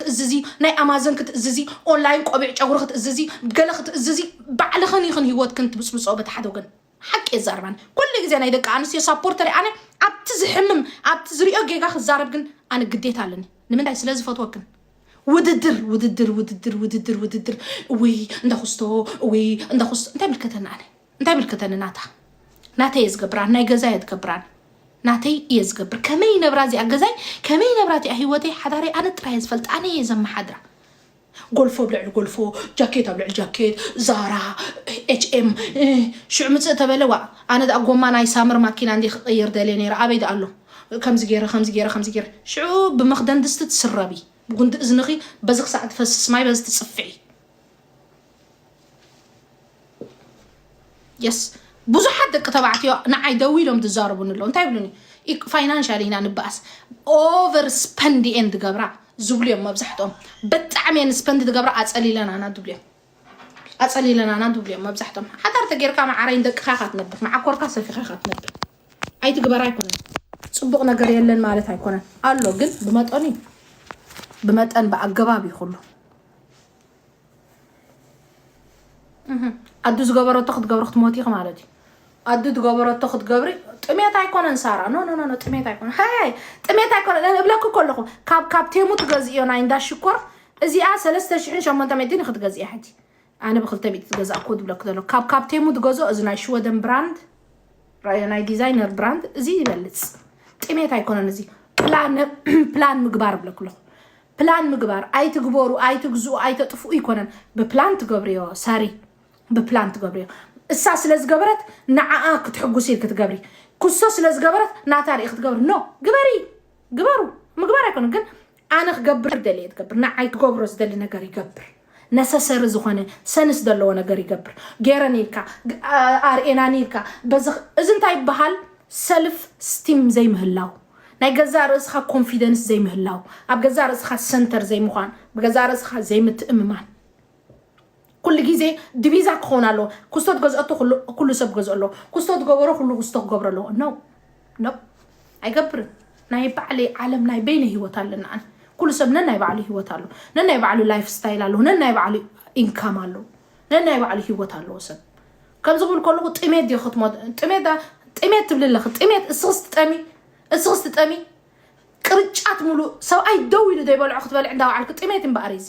ክትእዝዚ ናይ ኣማዘን ክትእዝዚ ኦንላይን ቆቢዕ ጨጉሪ ክትእዝዚ ገለ ክትእዝዚ ባዕልኽን ኢኽን ሂወትክን ትብጽብጾ በቲ ሓደ ወገን ሓቂ የዛርባን ኩሉ ግዜ ናይ ደቂ ኣንስትዮ ሳፖርተር ኣነ ኣብቲ ዝሕምም ኣብቲ ዝሪኦ ጌጋ ክዛረብ ግን ኣነ ግዴታ ኣለኒ ንምንታይ ስለ ዝፈትወክን ውድድር ውድድር ውድድር ውድድር ውድድር እውይ እንዳ ኩስቶ እውይ እንዳ ኩስቶ እንታይ ምልከተና ኣነ እንታይ ይምልከተኒ ናታ ናተይ እየ ዝገብራን ናይ ገዛይ ኣትገብራን ናተይ እየ ዝገብር ከመይ ይነብራ እዚኣ ገዛይ ከመይ ይነብራ እቲኣ ሂወተይ ሓዳረይ ኣነ ጥራይ ዝፈልጥ ኣነ እየ ዘመሓድራ ጎልፎ ኣብ ልዕሊ ጎልፎ ጃኬት ኣብ ልዕሊ ጃኬት ዛራ ኤችኤም ሽዑ ምፅእ ተበለ ዋ ኣነ ዳኣ ጎማ ናይ ሳምር ማኪና እንዲ ክቅይር ደልየ ነይረ ኣበይ ዳኣ ኣሎ ከምዚ ገይረ ከምዚ ገይረ ከምዚ ገይረ ሽዑ ብመክደን ድስቲ ትስረቢ ብጉንዲ እዝንኺ በዚ ክሳዕ ትፈስስ ማይ በዚ ትፅፍዒ የስ ብዙሓት ደቂ ተባዕትዮ ንዓይ ደው ኢሎም ዝዛረቡኒ ኣለዉ እንታይ ይብሉኒ ፋይናንሻል ኢና ንበኣስ ኦቨር ስፐንድ እየን ዝገብራ ዝብሉ እዮም መብዛሕትኦም ብጣዕሚ እየን ስፐንድ ዝገብራ ኣፀሊለናና ዝብሉ እዮም ኣፀሊለናና ዝብሉ እዮም መብዛሕትኦም ሓዳር ተጌርካ መዓረይን ደቅኻ ኢኻ ትነብር መዓኮርካ ሰፊኻ ኢኻ ትነብር ኣይትግበር ኣይኮነን ፅቡቕ ነገር የለን ማለት ኣይኮነን ኣሎ ግን ብመጠኑ እዩ ብመጠን ብኣገባብ እዩ ኩሉ ኣዱ ዝገበረቶ ክትገብሪ ክትሞቲ ኢኺ ማለት እዩ ኣዱ ትገበረቶ ክትገብሪ ጥሜት ኣይኮነን ሳራ ኖ ኖ ኖ ጥሜት ኣይኮነ ሃይ ጥሜት ኣይኮነ እብለኩ ከለኹ ካብ ካብ ቴሙ ትገዝእዮ ናይ እንዳ ሽኮር እዚኣ 3800 እዩ ክትገዝእያ ሕጂ ኣነ ብ200 ትገዛእኩ ዝብለኩ ዘሎ ካብ ካብ ቴሙ ትገዝኦ እዚ ናይ ሽወደን ብራንድ ራዮ ናይ ዲዛይነር ብራንድ እዚ ይበልፅ ጥሜት ኣይኮነን እዚ ፕላን ምግባር ብለኩ ኣለኹ ፕላን ምግባር ኣይትግበሩ ኣይትግዝኡ ኣይተጥፍኡ ይኮነን ብፕላን ትገብርዮ ሳሪ ብፕላን ትገብርዮ እሳ ስለ ዝገበረት ንዓኣ ክትሕጉስ ኢል ክትገብሪ ኩሶ ስለ ዝገበረት ናታ ርኢ ክትገብሪ ኖ ግበሪ ግበሩ ምግባር ኣይኮነ ግን ኣነ ክገብር ደልየ ትገብር ንዓይ ክገብሮ ዝደሊ ነገር ይገብር ነሰሰሪ ዝኾነ ሰንስ ዘለዎ ነገር ይገብር ገይረን ኢልካ ግ- ኣ- ኣርእናን ኢልካ በዚ እዚ እንታይ ይበሃል ሰልፍ ስቲም ዘይምህላው ናይ ገዛእ ርእስኻ ኮንፊደንስ ዘይምህላው ኣብ ገዛእ ርእስኻ ሰንተር ዘይምዃን ብገዛእ ርእስኻ ዘይምትእምማን ኩሉ ግዜ ድቪዛ ክኸውን ኣለዎ ኩስቶ ገዝኦቶ ኩሉ ሰብ ገዝኦ ኣለዎ ኩስቶ ገበሮ ኩሉ ኩስቶ ክገብሮ ኣለዎ ኖ ኖ ኣይገብርን ናይ ባዕለይ ዓለም ናይ በይነ ሂወት ኣለና ኣነ ኩሉ ሰብ ነናይ ባዕሉ ሂወት ኣሎ ነናይ ባዕሉ ላይፍ ስታይል ኣለዎ ነናይ ባዕሉ ኢንካም ኣለዎ ነናይ ባዕሉ ሂወት ኣለዎ ሰብ ከምዚ ክብል ከለኹ ጥሜት ዲዮ ክትሞት ጥሜት ጥሜት ትብሊ ኣለኺ ጥሜት እስኽስ ትጠሚ እስኽስ ትጠሚ ቅርጫት ሙሉእ ሰብኣይ ደው ኢሉ ዘይበልዖ ክትበልዕ እንዳባዓልኪ ጥሜት እምበኣር እዚ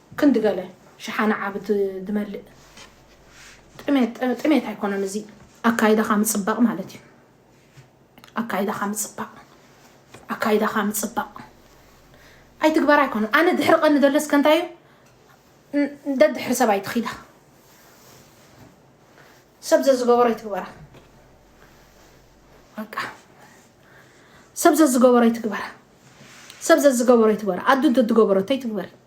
ክንዲ ገለ ሽሓነ ዓቢ ድመልእ ጥሜት ጥሜት ኣይኮነን እዚ ኣካይዳኻ ምጽባቕ ማለት እዩ ኣካይዳኻ ምጽባቕ ኣካይዳኻ ምጽባቕ ኣይትግበራ ኣይኮነን ኣነ ድሕሪ ቀኒ ዘለስ ከንታይ እዩ ደድሕሪ ሰብ ኣይትኺዳ ሰብ ዘዝገበሮ ይትግበራ በቃ ሰብ ዘዝገበሮ ይትግበራ ሰብ ዘዝገበሮ ይትግበራ ኣዱ እንተዝገበረቶ ይትግበሪ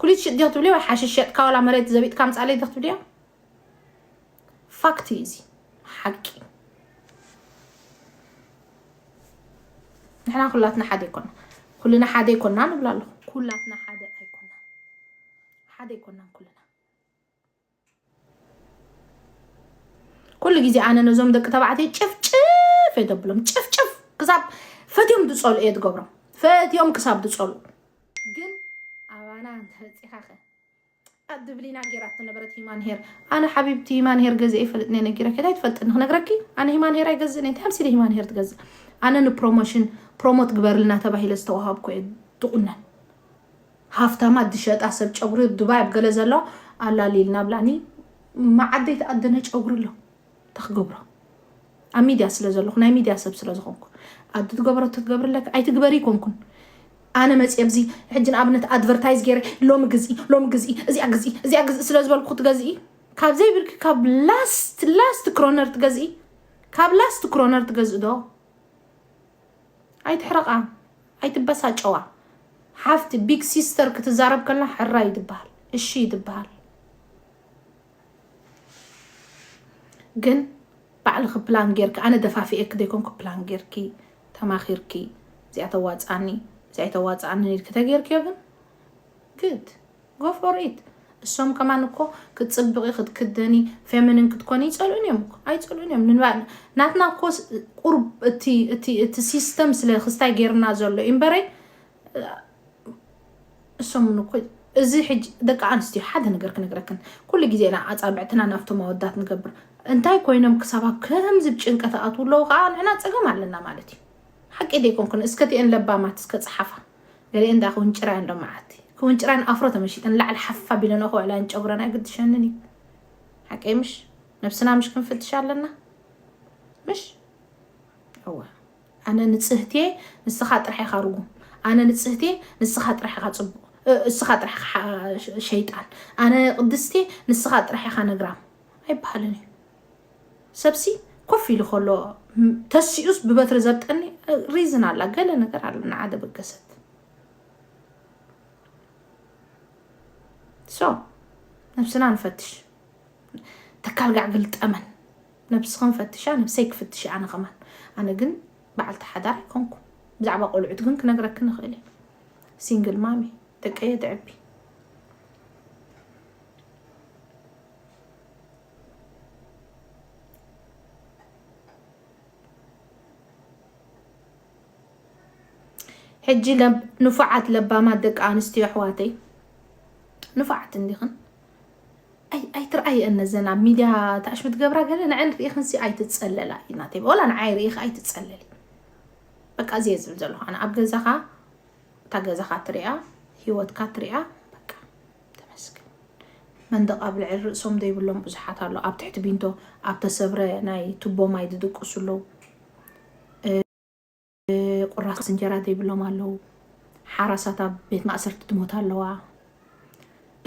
ኩሊት ሽጥ ዲኺ ትብልዮ ወይ ሓሽሽ ሸጥካ ዋላ መሬት ዘቢጥካ ኣምጻለይ ዲኺ ትብልዮ ፋክት እዩ እዚ ሓቂ ንሕና ኩላትና ሓደ ይኮና ኩልና ሓደ ይኮና ንብላ ኣለኹ ኩላትና ሓደ ኣይኮና ሓደ ይኮና ኩልና ኩሉ ግዜ ኣነ ነዞም ደቂ ተባዕትዮ ጭፍጭፍ እየ ተብሎም ጭፍጭፍ ክሳብ ፈትዮም ዝፀሉ እየ ትገብሮም ፈትዮም ክሳብ ዝፀሉ ግን ኣባና እንተበፂኻ ኸ ኣብ ድብሊና ጌራት ነበረት ሂማን ሄር ኣነ ሓቢብቲ ሂማን ሄር ገዚአ ይፈልጥ እየ ነጊረኪ እንታይ ትፈልጥኒ ክነግረኪ ኣነ ሂማን ሄር ኣይገዝእን እየ እንታይ ኣምሲለ ሂማን ሄር ትገዝእ ኣነ ንፕሮሞሽን ፕሮሞት ግበርልና ተባሂለ ዝተዋሃብኩ እየ ትቑነን ሃፍታማት ዝሸጣ ሰብ ጨጉሪ ኣብ ዱባይ ኣብ ገለ ዘሎ ኣላሊልና ብላ ን መዓደይ ተኣደነ ጨጉሪ ኣሎ እንታይ ክገብሮ ኣብ ሚድያ ስለ ዘለኹ ናይ ሚድያ ሰብ ስለ ዝኾንኩ ኣዱ ትገበረቶ ትገብርለካ ኣይትግበሪ ይኮንኩን ኣነ መፅየ ኣብዚ ሕጂ ንኣብነት ኣድቨርታይዝ ገይረ ሎሚ ግዝኢ ሎሚ ግዝኢ እዚኣ ግዝኢ እዚኣ ግዝኢ ስለ ዝበልኩ ክትገዝኢ ካብ ዘይብልኪ ካብ ላስት ላስት ክሮነር ትገዝኢ ካብ ላስት ክሮነር ትገዝእ ዶ ኣይትሕረቃ ኣይትበሳጨዋ ሓፍቲ ቢግ ሲስተር ክትዛረብ ከላ ሕራይ ትበሃል እሺ ትበሃል ግን ባዕልኺ ፕላን ጌርኪ ኣነ ደፋፊኤኪ ዘይኮንኩ ፕላን ጌርኪ ተማኺርኪ እዚኣ ተዋጽኣኒ እዚኣ ኣይተዋጽኣንን ኢልኪ ተጌርክዮ ግን ግድ Go for it እሶም ከማን እኮ ክትጽብቂ ክትክደኒ ፌሚኒን ክትኮኒ ይጸልኡን እዮም እኮ ኣይጸልኡን እዮም ንባ ናትና እኮ ቁርብ እቲ እቲ እቲ ሲስተም ስለ ክስታይ ጌርና ዘሎ እዩ እምበረይ እሶም ን እኮ እዚ ሕጂ ደቂ ኣንስትዮ ሓደ ነገር ክነግረክን ኩሉ ግዜ ኢና ኣጻብዕትና ናብቶም ኣወዳት ንገብር እንታይ ኮይኖም ክሳብ ኣብ ከምዚ ብ ጭንቀት ኣትው ኣለዉ ከዓ ንሕና ጸገም ኣለና ማለት እዩ ሓቂ ደይኮንኩን እስከቲኤን ለባማት እስከ ጸሓፋ ገሊኤን እንዳ ክውንጭራ እየን ሎሚ መዓልቲ። ክውንጭራ ንኣፍሮ ተመሺጠን ንላዕሊ ሓፍ ኣቢለንኦ ክውዕላ እየን ጨጉረን ኣይግድሸንን እዩ። ሓቀይ ምሽ? ነብስና ምሽ ክንፍትሽ ኣለና ምሽ? እወ ኣነ ንጽህት እየ ንስኻ ጥራሕ ኢኻ ርጉም፣ ኣነ ንጽህት እየ ንስኻ ጥራሕ ኢኻ ጽቡቕ፣ እስኻ ጥራሕ ኢኻ ሸይጣን፣ ኣነ ቅድስት እየ ንስኻ ጥራሕ ኢኻ ነግራም ኣይበሃልን እዩ። ሰብሲ ኮፍ ኢሉ ከሎ ተሲኡስ ብበትሪ ዘብጠኒ ሪዝን ኣላ ገለ ነገር ኣለ ንዓ ደበገሰት ሶ ነብስና ንፈትሽ ተካል ጋዕ ግልጠመን ነብስኽን ፈትሻ ነብሰይ ክፍትሽ ኣነ ከማን ኣነ ግን በዓልቲ ሓዳር ኣይኮንኩ ብዛዕባ ቆልዑት ግን ክነግረክ ንኽእል እየ ሲንግል ማሚ ደቀየ ተዕቢ ሕጂ ንፉዓት ለባማት ደቂ ኣንስትዮ ኣሕዋተይ ንፉዓት እንዲኽን ኣይትርኣየን ነዘን ኣብ ሚድያ ተኣሽሙ ትገብራ ገለ ንዐን ርኢኽንሲ ኣይትፀለላ እዩ ናተይ ወላ ንዓይ ርኢኽ ኣይትፀለሊ በቃ እዚየ ዝብል ዘለኹ ኣነ ኣብ ገዛኻ እታ ገዛኻ ትሪኣ ሂወትካ ትሪኣ ተመስገን መንደቕ ኣብ ልዕሊ ርእሶም ዘይብሎም ብዙሓት ኣሎ ኣብ ትሕቲ ቢንቶ ኣብ ተሰብረ ናይ ቱቦ ማይ ዝድቅሱ ኣለዉ ቁራስ እንጀራ ዘይብሎም ኣለዉ ሓራሳት ኣብ ቤት ማእሰርቲ ትሞት ኣለዋ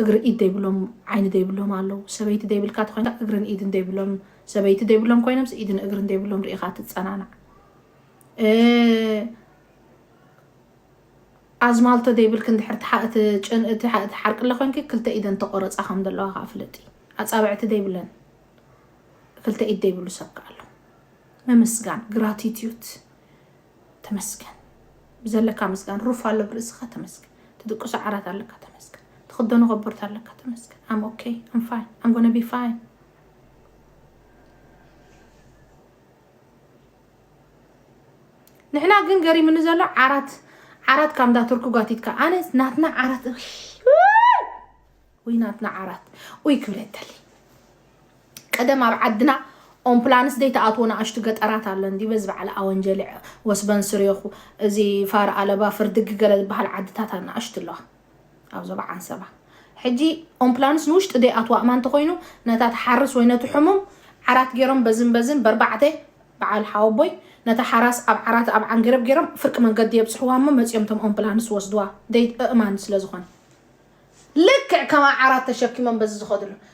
እግሪ ኢድ ዘይብሎም ዓይኒ ዘይብሎም ኣለዉ ሰበይቲ ዘይብልካ ተኮይንካ እግርን ኢድን ዘይብሎም ሰበይቲ ዘይብሎም ኮይኖም ኢድን እግርን ዘይብሎም ርኢኻ ትፀናናዕ ኣዝማልቶ ዘይብልኪ እንድሕር ትሓ እቲ ጭን እቲ ሓ እቲ ሓርቅለ ኮንኪ ክልተ ኢደን ተቆረጻ ከም ዘለዋ ከኣ ፍለጢ ኣጻብዕቲ ዘይብለን ክልተ ኢድ ዘይብሉ ሰብ ከኣ ኣሎ ምምስጋን ግራቲቲዩት ተመስገን ብዘለካ ምስጋን ሩፍ ኣሎ ብርእስኻ ተመስገን ትድቅሶ ዓራት ኣለካ ተመስገን ትኽደኖ ከቦርታ ኣለካ ተመስገን ኣም ኦኬ ኣም ፋይን ኣም ጎነ ቢ ፋይን ንሕና ግን ገሪምኒ ዘሎ ዓራት ዓራት ካብ እንዳ ቱርኪ ጓቲትካ ኣነ ናትና ዓራት ወይ ናትና ዓራት ወይ ክብለተሊ ቀደም ኣብ ዓድና ኦምፕላንስ ዘይተኣትዎ ንኣሽቱ ገጠራት ኣሎ እንዲ በዚ በዓል ኣወንጀሊ ወስበን ስሬኹ እዚ ፋር ኣለባ ፍርድጊ ገለ ዝበሃል ዓድታት ኣናኣሽቱ ኣለዋ ኣብ ዞባ ዓንሰባ ሕጂ ኦምፕላንስ ንውሽጢ ደይኣትዋ እማ እንተኾይኑ ነታ ትሓርስ ወይ ነቲ ሕሙም ዓራት ገይሮም በዝን በዝን በርባዕተ በዓል ሓወቦይ ነታ ሓራስ ኣብ ዓራት ኣብ ዓንገረብ ገይሮም ፍርቂ መንገዲ የብጽሕዋ እሞ መጺኦም እቶም ኦምፕላንስ ወስድዋ ደይ እእማን ስለዝኾነ ልክዕ ከም ኣዓራት ተሸኪሞም በዚ ዝኸድሉ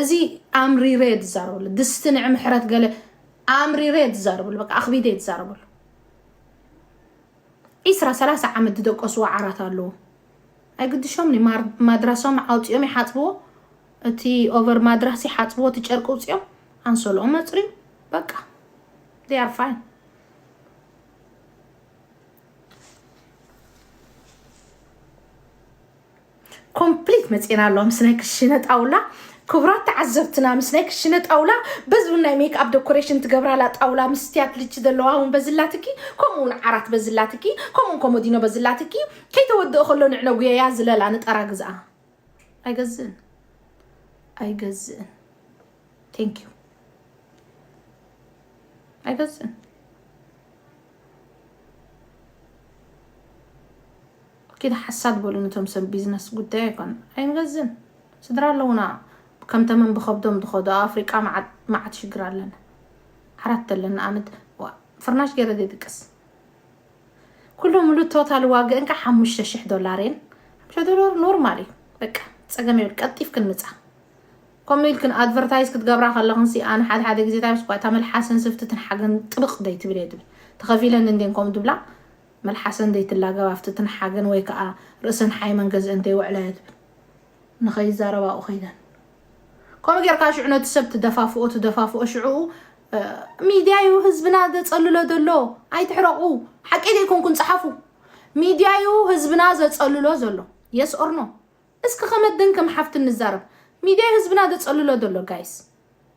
እዚ ኣምሪረ እየ ዝዛረበሉ ድስቲ ንዒ ምሕረት ገለ ኣምሪረ እየ ዝዛረበሉ በቃ ኣኽቢደ እየ ዝዛረበሉ ዒስራ ሰላሳ ዓመት ዝደቀስዎ ዓራት ኣለዎ ኣይግድሾም ኒ ማር- ማድራሶም ኣውፂኦም ይሓፅብዎ እቲ ኦቨር ማድራስ ይሓፅብዎ እቲ ጨርቂ ውፅኦም ኣንሶልኦም መፅርዩ በቃ they are fine ኮምፕሊት መፂና ኣሎ ምስ ናይ ክሽነ ጣውላ ክቡራት ተዓዘብትና ምስ ናይ ክሽነ ጣውላ በዚ እውን ናይ ሜክኣፕ ዶኮሬሽን ትገብራላ ጣውላ ምስ ስትያት ልቺ ዘለዋ እውን በዝላትኪ ከምኡ እውን ዓራት በዝላትኪ ከምኡውን ኮሞዲኖ በዝላትኪ ከይተወድኦ ከሎ ንዕነ ጉየያ ዝለላ ንጠራ ግዝኣ ኣይገዝእን ኣይገዝእን ቴንክ ዩ ኣይገዝእን ኪድ ሓሳድ በሉ ንቶም ሰብ ቢዝነስ ጉዳይ ኣይኮነን ኣይንገዝን ስድራ ኣለውና ከም ተመን ብከብዶም ድከዱ ኣብ ኣፍሪቃ ማዓት ማዓት ሽግር ኣለና ዓራት ተለና ኣነ ዋእ ፍርናሽ ገይረ ዘይድቅስ ኩሉ ሙሉ ቶታል ዋግእን ከ ሓሙሽተ ሽሕ ዶላር እየን ሓሙሽተ ዶላር ኖርማል እዩ በቃ ጸገም የብል ቀልጢፍክን ምጻ ከምኡ ኢልክን ኣድቨርታይዝ ክትገብራ ከለኽን ሲ ኣነ ሓደ ሓደ ግዜ ታይስ እኳ እታ መልሓስን ስፍትትን ሓገን ጥብቕ ደይ ትብል እየ ትብል ተኸፊለን እንዴን ከምኡ ድብላ መልሓሰን ዘይትላገብ ኣፍቲ ትንሓገን ወይ ከኣ ርእሰን ሓይመን ገዝኤን ተይውዕላ እየ ዝብል ንኸይዛረብ ኣብኡ ከይደን ከምኡ ጌርካ ሽዑ ነቲ ሰብ ትደፋፍኦ ትደፋፍኦ ሽዑኡ ሚድያ እዩ ህዝብና ዘጸልሎ ዘሎ ኣይትሕረቑ ሓቂ ዘይኮንኩን ጸሓፉ ሚድያ እዩ ህዝብና ዘጸልሎ ዘሎ የስ ኦርኖ እስኪ ከመደን ከም ሓፍቲ ንዛረብ ሚድያ እዩ ህዝብና ደፀልሎ ደሎ ጋይስ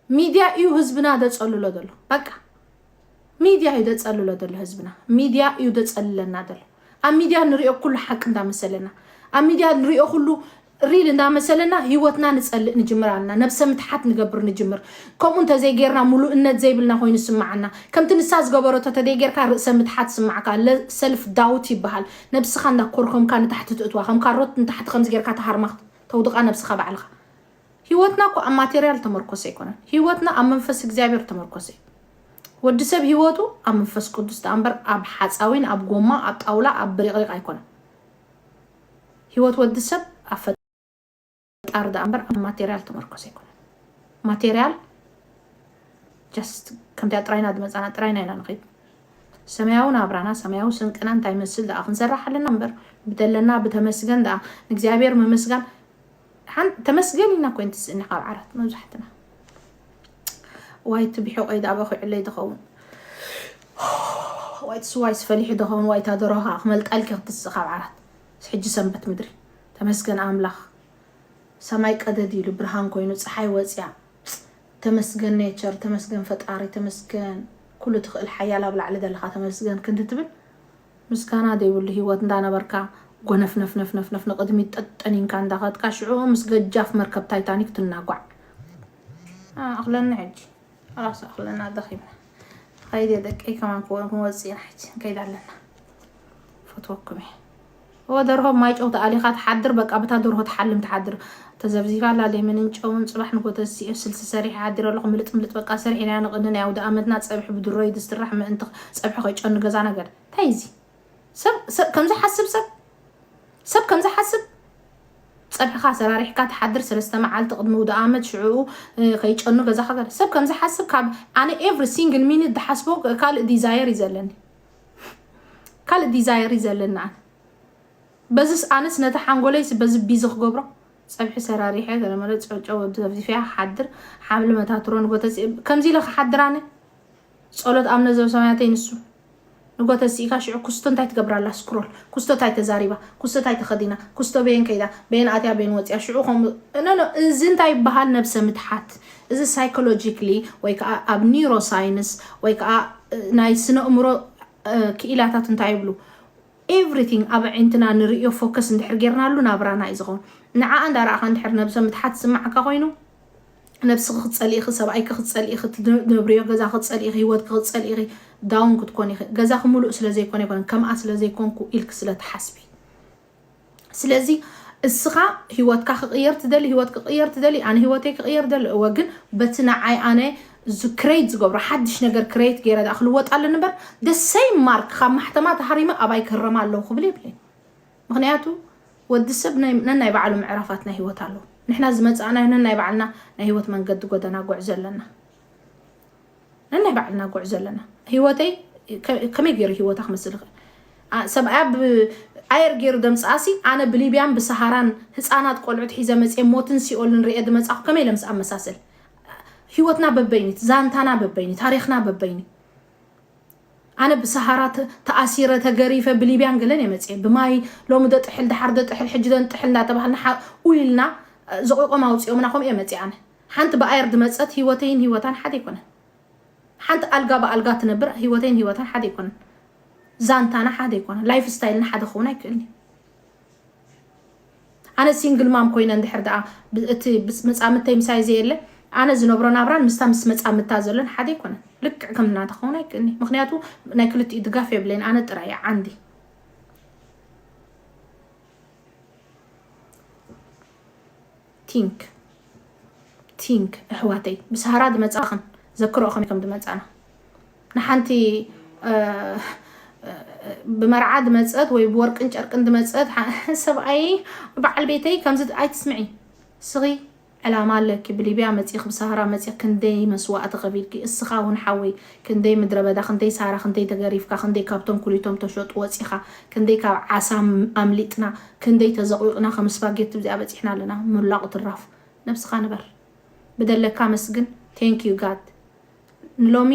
ሚድያ እዩ ህዝብና ደፀልሎ ደሎ በቃ ሚድያ እዩ ደፀልሎ ደሎ ህዝብና ሚድያ እዩ ደፀልለና ደሎ ኣብ ሚድያ ንሪኦ ኩሉ ሓቂ እንዳመሰለና ኣብ ሚድያ ንሪኦ ኩሉ ሪል እንዳመሰለና ህይወትና ንፀልእ ንጅምር ኣለና ነብሰ ምትሓት ንገብር ንጅምር ከምኡ እንተዘይጌርና ሙሉእነት ዘይብልና ኮይኑ ስማዓና ከምቲ ንሳ ዝገበረቶ ተደይጌርካ ርእሰ ምትሓት ስማዕካ ሰልፍ ዳውት ይበሃል ነብስኻ እንዳ ኮርኮምካ ንታሕቲ ትእትዋ ከም ካሮት ንታሕቲ ከምዚ ጌርካ ትሃርማ ተውድቓ ነብስኻ ባዕልኻ። ሂወትና እኮ ኣብ ማቴርያል ዝተመርኮሰ ኣይኮነን ሂወትና ኣብ መንፈስ እግዚኣብሔር ዝተመርኮሰ እዩ። ወዲ ሰብ ሂወቱ ኣብ መንፈስ ቅዱስ ደኣ እምበር ኣብ ሓጻዊን ኣብ ጎማ ኣብ ጣውላ ኣብ ብሪቕሪቕ ኣይኮነን። ሂወት ወዲ ሰብ ኣብ ምፍጣር ደኣ እምበር ኣብ ማቴርያል ተመርኮሰ ኣይኮነን። ማቴርያል ጀስት ከምቲኣ ጥራይና ዝመጻና ጥራይና ኢና ንኸይድ። ሰማያዊ ናብራና ሰማያዊ ስንቅና እንታይ ይመስል ደኣ ክንሰርሕ ኣለና እምበር ብደለና ብተመስገን ደኣ ንእግዚኣብሔር ምምስጋን ተመስገን ኢና ኮይን ትስእኒ ካብ ዓራት መብዛሕትና ዋይ እቲ ብሕቆይ ደኣ በኺዑለይ ዝኸውን ዋይ እቲ ስዋይ ስፈሊሑ ዝኸውን ዋይታ ደሮኻ ክመልጣልኪ ክትስእ ካብ ዓራት ሕጂ ሰንበት ምድሪ ተመስገን ኣምላኽ ሰማይ ቀደድ ኢሉ ብርሃን ኮይኑ ጸሓይ ወጽያ ተመስገን ኔቸር ተመስገን ፈጣሪ ተመስገን ኩሉ ትኽእል ሓያል ኣብ ላዕሊ ዘለኻ ተመስገን ክንዲ ትብል ምስጋና ዘይብሉ ሂወት እንዳነበርካ ጎነፍነፍነፍነፍነፍ ንቕድሚት ጠጠኒንካ እንዳኸድካ ሽዑ ምስ ገጃፍ መርከብ ታይታኒክ ትናጓዕ ኣኽለኒ ሕጂ ራስ ኣኽለና ደኺምና ኸይድ ደቀይ ከማን ክወጽእ ኢና ሕጂ ንከይድ ኣለና ፈትወኩም እየ እወ ደርሆ ማይ ጨው ተኣሊኻ ትሓድር በቃ ብታ ደርሆ ትሓልም ትሓድር ተዘብዚፋ ኣላ ሌመንን ጨውን ጽባሕ ንግሆ ተሲኤ ስልሲ ሰሪሐ ሓዲረ ኣለኹ ምልጥ ምልጥ በቃ ሰሪሕናዮ ንቕኒ ናይ ኣውደኣመትና ጸብሒ ብድሮ ዩ ዝስራሕ ምእንቲ ጸብሒ ከይጨኑ ገዛና ገለ እንታይ ዩ እዚ ሰብ ሰብ ከምዚ ሓስብ ሰብ ሰብ ከምዚ ሓስብ ጸብሕኻ ኣሰራሪሕካ ትሓድር ሰለስተ መዓልቲ ቅድሚ ውደ ኣመት ሽዑኡ ከይጨኑ ገዛኻ ሰብ ከምዚ ሓስብ ካብ ኣነ ኤቭሪ ሲንግል ሚኒት ዝሓስቦ ካልእ ዲዛየር እዩ ዘለኒ ካልእ ዲዛየር እዩ ዘለኒ ኣነ በዝስ ኣነስ ነቲ ሓንጎለይስ በዚ ቢዚ ክገብሮ ፀብሒ ሰራሪሐ ገለመለ ጨጨ ወዲ ዘፍዚፍያ ክሓድር ሓምሊ መታትሮ ንጎተሲ ከምዚ ኢለ ክሓድር ኣነ ጸሎት ኣምነ ዘበሰማያተይ ንሱ ንጎተ ሲኢካ ሽዑ ኩስቶ እንታይ ትገብራላ ስክሮል ኩስቶ እንታይ ተዛሪባ ኩስቶ እንታይ ተኸዲና ኩስቶ በየን ከይዳ በየን ኣትያ በየን ወፅያ ሽዑ ከምኡ ኖ እዚ እንታይ ይበሃል ነብሰ ምትሓት እዚ ሳይኮሎጂክሊ ወይ ከዓ ኣብ ኒውሮሳይንስ ወይ ከዓ ናይ ስነእምሮ ክኢላታት እንታይ ይብሉ ኤቭሪቲንግ ኣብ ኣዒንትና ንርእዮ ፎከስ እንድሕር ጌርናሉ ናብራና እዩ ዝኸውን ንዓኣ እንዳረኣኻ እንድሕር ነብሰ ምትሓት ዝስማዓካ ኮይኑ ነብስኺ ክትፀልኢ ኢኺ ሰብኣይኪ ክትፀልኢ ኢኺ ትነብርዮ ገዛ ክትፀልኢ ኢኺ ሂወትኪ ክትፀልኢ ኢኺ ዳውን ክትኮኒ ኢኺ ገዛኺ ሙሉእ ስለዘይኮነ ኣይኮነን ከምኣ ስለዘይኮንኩ ኢልኪ ስለትሓስቢ ስለዚ እስኻ ህይወትካ ክቕየር ትደሊ ህይወት ክቕየር ትደሊ ኣነ ህይወተይ ክቕየር ደሊ እወ ግን በቲ ንዓይ ኣነ ክሬት ዝገብሮ ሓድሽ ነገር ክሬት ገይረ ድኣ ክልወጥ ኣለኒ እምበር ደሰይ ማርክ ካብ ማሕተማ ተሃሪመ ኣባይ ክህረማ ኣለዉ ክብል የብለይ ምክንያቱ ወዲ ሰብ ነናይ ባዕሉ ምዕራፋት ናይ ህይወት ኣለዉ ንሕና ዝመፃእናዮ ነናይ ባዕልና ናይ ህይወት መንገዲ ጎደና ጎዕዞ ኣለና ነናይ ባዕልና ጉዕዞ ኣለና ሂወተይ ከመይ ገይሩ ሂወታ ክመስል ይኽእል ሰብኣያ ኣየር ገይሩ ደምፅኣሲ ኣነ ብሊብያን ብሰሃራን ህፃናት ቆልዑት ሒዘ መፅኤ ሞትን ሲኦልን ርኤ ድመፃኹ ከመይ ኢለ ምስ ኣመሳሰል ሂወትና በበይኒት ዛንታና በበይኒ ታሪክና በበይኒ ኣነ ብሰሃራ ተኣሲረ ተገሪፈ ብሊብያን ገለን እየ መፅኤ ብማይ ሎሚ ደጥሕል ድሓር ደጥሕል ሕጂ ደንጥሕል እንዳተባሃልና ሓ- ኢልና ዘቑቆም ኣውፂኦምና ከምኡ እየ መፅኤ ኣነ ሓንቲ ብኣየር ድመጸት ሂወተይን ሂወታን ሓደ ኣይኮነን ሓንቲ ኣልጋ ብኣልጋ ትነብር ሂወተይን ሂወታን ሓደ ኣይኮነን ዛንታና ሓደ ኣይኮነን ላይፍ ስታይልና ሓደ ክኸውን ኣይክእልን እዩ ኣነ ሲንግል ማም ኮይነ እንድሕር ደኣ እቲ መጻምተይ ምሳይ ዘየለ ኣነ ዝነብሮ ናብራን ምስታ ምስ መጻምታ ዘሎን ሓደ ኣይኮነን ልክዕ ከም ናታ ክኸውን ኣይክእልኒ ምክንያቱ ናይ ክልቲኡ ድጋፍ የብለይን ኣነ ጥራይ እያ ዓንዲ ቲንክ ቲንክ እሕዋተይ ምስ ሃራ ድመፃክን ዘክርኦ ከመይ ከም ድመፃና ንሓንቲ ብመርዓ ድመፀት ወይ ብወርቅን ጨርቅን ድመፀት ሰብኣይ በዓል ቤተይ ከምዚ ኣይትስምዒ ስኺ ዕላማ ኣለኪ ብሊብያ መፂኽ ብሳሃራ መፂኽ ክንደይ መስዋእቲ ከፊልኪ እስኻ እውን ሓወይ ክንደይ ምድረበዳ ክንደይ ሳራ ክንደይ ተገሪፍካ ክንደይ ካብቶም ኩሊቶም ተሸጡ ወጺኻ ክንደይ ካብ ዓሳ ኣምሊጥና ክንደይ ተዘቕዊቕና ከም ስፓጌቲ ብዚኣ በጺሕና ኣለና ሞላቑ ትራፍ ነብስኻ ንበር ብደለካ ኣመስግን thank you God ንሎሚ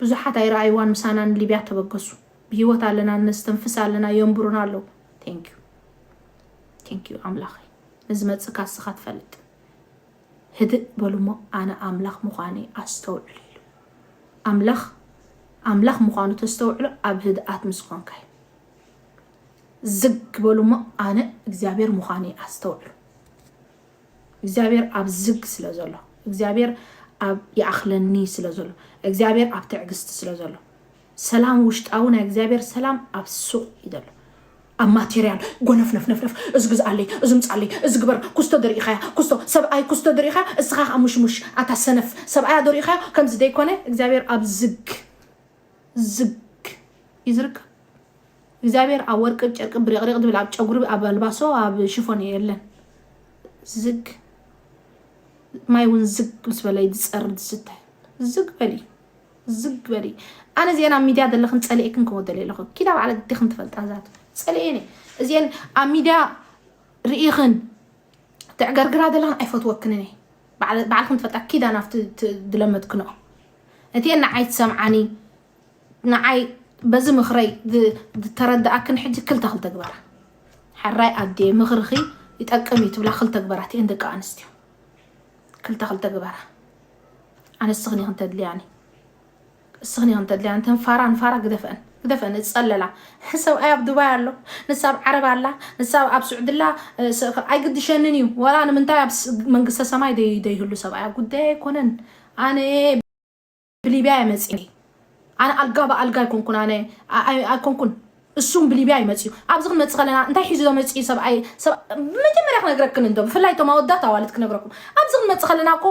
ብዙሓት ኣይረኣይዋን ምሳና ንሊብያ ተበገሱ ብሂወት ኣለና ነስተንፍስ ኣለና የንብሩና ኣለዉ thank you thank you ኣምላኸይ ንዝመጽእ ካስኻ ትፈልጥ ህድእ በሉ'ሞ ኣነ ኣምላኽ ምዃነይ ኣስተውዕሉ ኢሉ። ኣምላኽ ኣምላኽ ምዃኑ ተስተውዕሎ ኣብ ህድኣት ምስ ኾንካ'ዩ። ዝግ በሉ'ሞ ኣነ እግዚኣብሔር ምዃነይ ኣስተውዕሉ። እግዚኣብሔር ኣብ ዝግ ስለ ዘሎ፣ እግዚኣብሔር ኣብ ይኣኽለኒ ስለ ዘሎ፣ እግዚኣብሔር ኣብ ትዕግስቲ ስለ ዘሎ፣ ሰላም ውሽጣዊ ናይ እግዚኣብሔር ሰላም ኣብ ሱቅ እዩ ዘሎ ኣብ ማቴርያል ጎነፍነፍነፍነፍ እዚ ግዝኣለይ እዚ ምጻለይ እዚ ግበር ኩስቶ ዶ ሪኢኻያ ኩስቶ ሰብኣይ ኩስቶ ዶ ሪኢኻያ እስኻ ከኣ ሙሽሙሽ ኣታ ሰነፍ ሰብኣያ ዶ ሪኢኻዮ ከምዚ ዘይኮነ እግዚኣብሔር ኣብ ዝግ ዝግ እዩ ዝርከብ እግዚኣብሔር ኣብ ወርቂ ጨርቂ ብሪቕሪቕ ዝብል ኣብ ጨጉሪ ኣብ ኣልባሶ ኣብ ሽፎን የለን ዝግ ማይ እውን ዝግ ምስ በለ ዝጸርድ ዝስተ ዝግ በል እዩ ዝግ በሊ ኣነ እዚኤን ኣብ ሚድያ ዘለኽን ፀሊኤክን ክወ ደሌለኹ ኪዳ ባዕለ ግዲኽን ትፈልጣ ዛት ፀሊኤን እየ እዚኤን ኣብ ሚድያ ርኢኽን ትዕገርግራ ዘለኽን ኣይፈትወክንን እየ ባዕለ- ባዕልኽን ትፈልጣ ኪዳ ናብቲ ት- ዝለመድክንኦ እቲኤን ንዓይ ትሰምዓኒ ንዓይ በዚ ምኽረይ ዝ- ዝተረዳኣክን ሕጂ ክልተ ክልተ ግበራ ሕራይ ኣዴ ምኽርኺ ይጠቅም እዩ ትብላ ክልተ ግበራ እቲኤን ደቂ ኣንስትዮ ክልተ ክልተ ግበራ ኣነ እስኽን ኢኽን ተድልያኒ እስኽን ኢኽን ተድልያኒ እተን ፋራ ንፋራ ግደፈን ግደፈን እጸለላ ሰብኣይ ኣብ ዱባይ ኣሎ ንሳ ኣብ ዓረብ ኣላ ንሳ ኣብ ስዑድላ ኣይግድሸንን እዩ ወላ ንምንታይ ኣብ መንግስተ ሰማይ ደይህሉ ሰብኣይ ጉዳይ ኣይኮነን ኣነ ብሊብያ እየ መጺኤ ኣነ ኣልጋ ብኣልጋ ኣይኮንኩን ኣነ ኣይኮንኩን እሱም ብሊብያ እዩ መጺኡ ኣብዚ ክንመጽእ ከለና እንታይ ሒዙ ዶ መጺኡ ሰብኣይ መጀመርያ ክነግረክን እንዶ ብፍላይ እቶም ኣወዳት ኣዋልድ ክነግረኩም ኣብዚ ክንመጽእ ከለና እኮ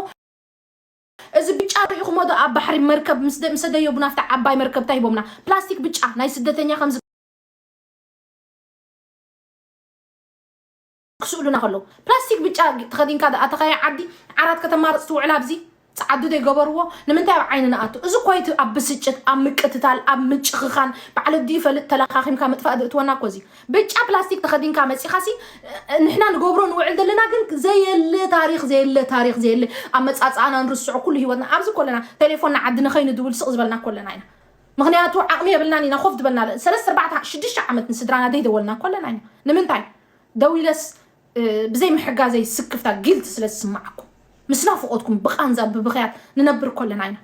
እዚ ብጫ ርኢኹሞ ዶ ኣብ ባሕሪ መርከብ ምስ ደየቡና ኣብቲ ዓባይ መርከብ እንታይ ሂቦምና ፕላስቲክ ብጫ ናይ ስደተኛ ከም ክስእሉና ከለዉ ፕላስቲክ ብጫ ተኸዲንካ ደኣ ተኸያ ዓዲ ዓራት ከተማርፅ ትውዕል ኣብዚ ፃዓዱ ዘይገበርዎ ንምንታይ ኣብ ዓይኒ ንኣቱ እዚ ኮይቲ ኣብ ብስጭት ኣብ ምቅትታል ኣብ ምጭኽኻን ባዕለ ድዩ ፈልጥ ተለኻኺምካ ምጥፋእ ዝእትወና እኮ እዚ ብጫ ፕላስቲክ ተኸዲንካ መፂኻሲ ንሕና ንገብሮ ንውዕል ዘለና ግን ዘየለ ታሪክ ዘየለ ታሪክ ዘየለ ኣመፃፅኣና ንርስዖ ኩሉ ሂወትና ኣብዚ ኮለና ቴሌፎን ንዓዲ ንኸይንድውል ስቕ ዝበልና ኮለና ኢና ምክንያቱ ዓቕሚ የብልናን ኢና ኮፍ ዝበልና ሰለስተ ኣርባዕተ ሽዱሽተ ዓመት ንስድራና ዘይደወልና ኮለና ኢና ንምንታይ ደው ኢለስ ብዘይ ምሕጋዘይ ስክፍታ፣ Guilt፣ ስለ ዝስምዓኩም፣ ምስ ናፍቖትኩም ብቓንዛ ብብኽያት ንነብር ኮለና ኢና።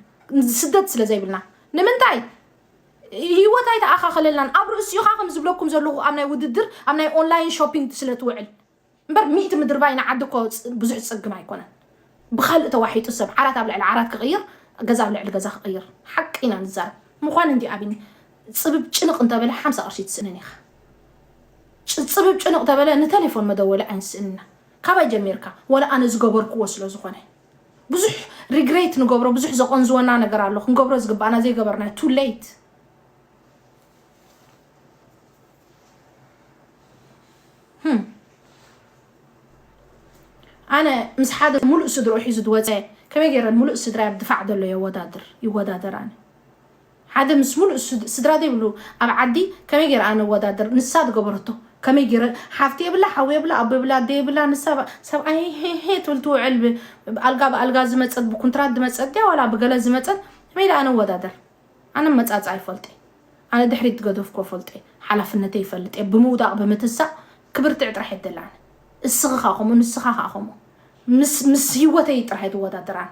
ስደት ስለ ዘይብልና። ንምንታይ? ህይወት ኣይተኣኻኸለልናን። ኣብ ርእሲ'ኻ ከም ዝብለኩም ዘለኹ ኣብ ናይ ውድድር፣ ኣብ ናይ ኦንላይን ሾፒንግ ስለ ትውዕል። እምበር ሚእቲ ምድርባይ ንዓዲ እኮ ብዙሕ ዝጸግም ኣይኮነን። ብኻልእ ተዋሒጡ ሰብ ዓራት ኣብ ልዕሊ ዓራት ክቕይር፣ ገዛ ኣብ ልዕሊ ገዛ ክቕይር። ሓቂ ኢና ንዛረብ። ምዃን እንድዩ ኣብኒ። ጽብብ ጭንቕ እንተበለ ሓምሳ ቅርሺ ትስእንን ኢኻ። ጽጽብብ ጭንቕ ተበለ ንተሌፎን መደወሊ ኣይንስእንና ካባይ ጀሚርካ ወላ ኣነ ዝገበርክዎ ስለ ዝኾነ ብዙሕ ሪግሬት ንገብሮ ብዙሕ ዘቆንዝወና ነገር ኣሎ ክንገብሮ ዝግባኣና ዘይገበርናዮ ቱ ሌት ኣነ ምስ ሓደ ሙሉእ ስድሮ ሒዙ ዝወፀ ከመይ ገይረ ሙሉእ ስድራይ ኣብ ድፋዕ ዘሎ የወዳድር ይወዳደር ኣነ ሓደ ምስ ሙሉእ ስድራ ዘይብሉ ኣብ ዓዲ ከመይ ገይረ ኣነ እወዳደር ንሳ ዝገበረቶ ከመይ ገይረ ሓፍቲ የብላ ሓው የብላ ኣቦ የብላ ኣደ የብላ ንሳ ብ ሰብኣይ ሄሄ ትብል ትውዕል ብ ኣልጋ ብኣልጋ ዝመጸት ብኩንትራት ዝመጸት ድያ ዋላ ብገለ ዝመጸት ከመይ ኢለ ኣነ እወዳደር ኣነ ኣመጻጽኣ ይፈልጥ እየ ኣነ ድሕሪት ዝገደፍክዎ እፈልጦ እየ ሓላፍነተይ ይፈልጥ እየ ብምውዳቕ ብምትሳእ ክብርትዕ ጥራሕ እየ ዝደሊ ኣነ እስኺ ከኣ ከምኡ ንስኻ ከኣ ከምኡ ምስ ምስ ሂወተይ ጥራሕ እየ ዝወዳደር ኣነ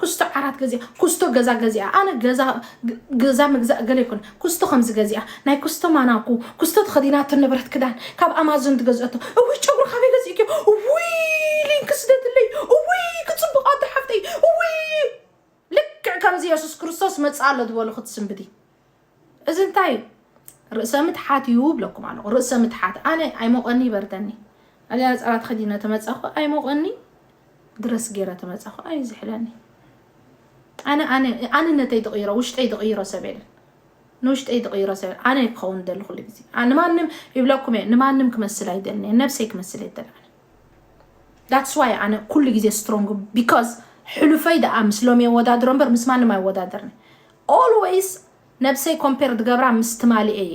ኩስቶ ዓራት ገዚኣ ኩስቶ ገዛ ገዚኣ ኣነ ገዛ ገዛ ምግዛእ ገለ ይኹን ኩስቶ ከምዚ ገዚኣ ናይ ኩስቶ ማናኩ ኩስቶ ተኸዲናቶ ንብረት ክዳን ካብ ኣማዞን ትገዝኦቶ እውይ ጨጉሪ ካበይ ገዚእክዮ እውይ ሊንክ ስደትለይ እውይ ክፅቡቕ ኣዶ ሓፍተይ እውይ ልክዕ ከምዚ የሱስ ክርስቶስ መፅእ ኣሎ ዝበሉ ክትስንብዲ እዚ እንታይ እዩ ርእሰ ምትሓት እዩ እብለኩም ኣለኹ ርእሰ ምትሓት ኣነ ኣይሞቀኒ ይበርደኒ ኣልያ ነጸላ ተኸዲነ ተመጻኹ ኣይሞቀኒ ድረስ ገይረ ተመጻኹ ኣዩ ዝሕለኒ ኣነ ኣነ ኣንነተይ ድቕይሮ ውሽጠይ ድቕይሮ ሰብ የለን ንውሽጠይ ድቕይሮ ሰብ ኣነ ክኸውን ደሊ ኩሉ ግዜ ንማንም ይብለኩም እየ ንማንም ክመስል ኣይደልን እየ ነብሰይ ክመስል እየ ደሊ ዳትስ ዋይ ኣነ ኩሉ ግዜ ስትሮንግ ቢካዝ ሕሉፈይ ደኣ ምስ ሎሚ የወዳድሮ እምበር ምስ ማንም ኣይወዳደርኒ ኦልወይስ ነብሰይ ኮምፔር ዝገብራ ምስ ትማሊ እየ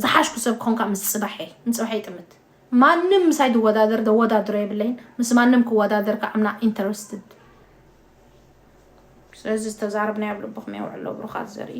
ዝሓሽኩ ሰብ ክኾንካ ምስ ፅባሐ ንፅባሐ ይጥምት ማንም ምሳይ ዝወዳደር ዘወዳድሮ የብለይን ምስ ማንም ክወዳደር ከዓ ምና ኢንተረስትድ ስለዚ ዝተዛረብናዮ ኣብ ልብኹም የውዕሎ ብሩኻት ዘርኢ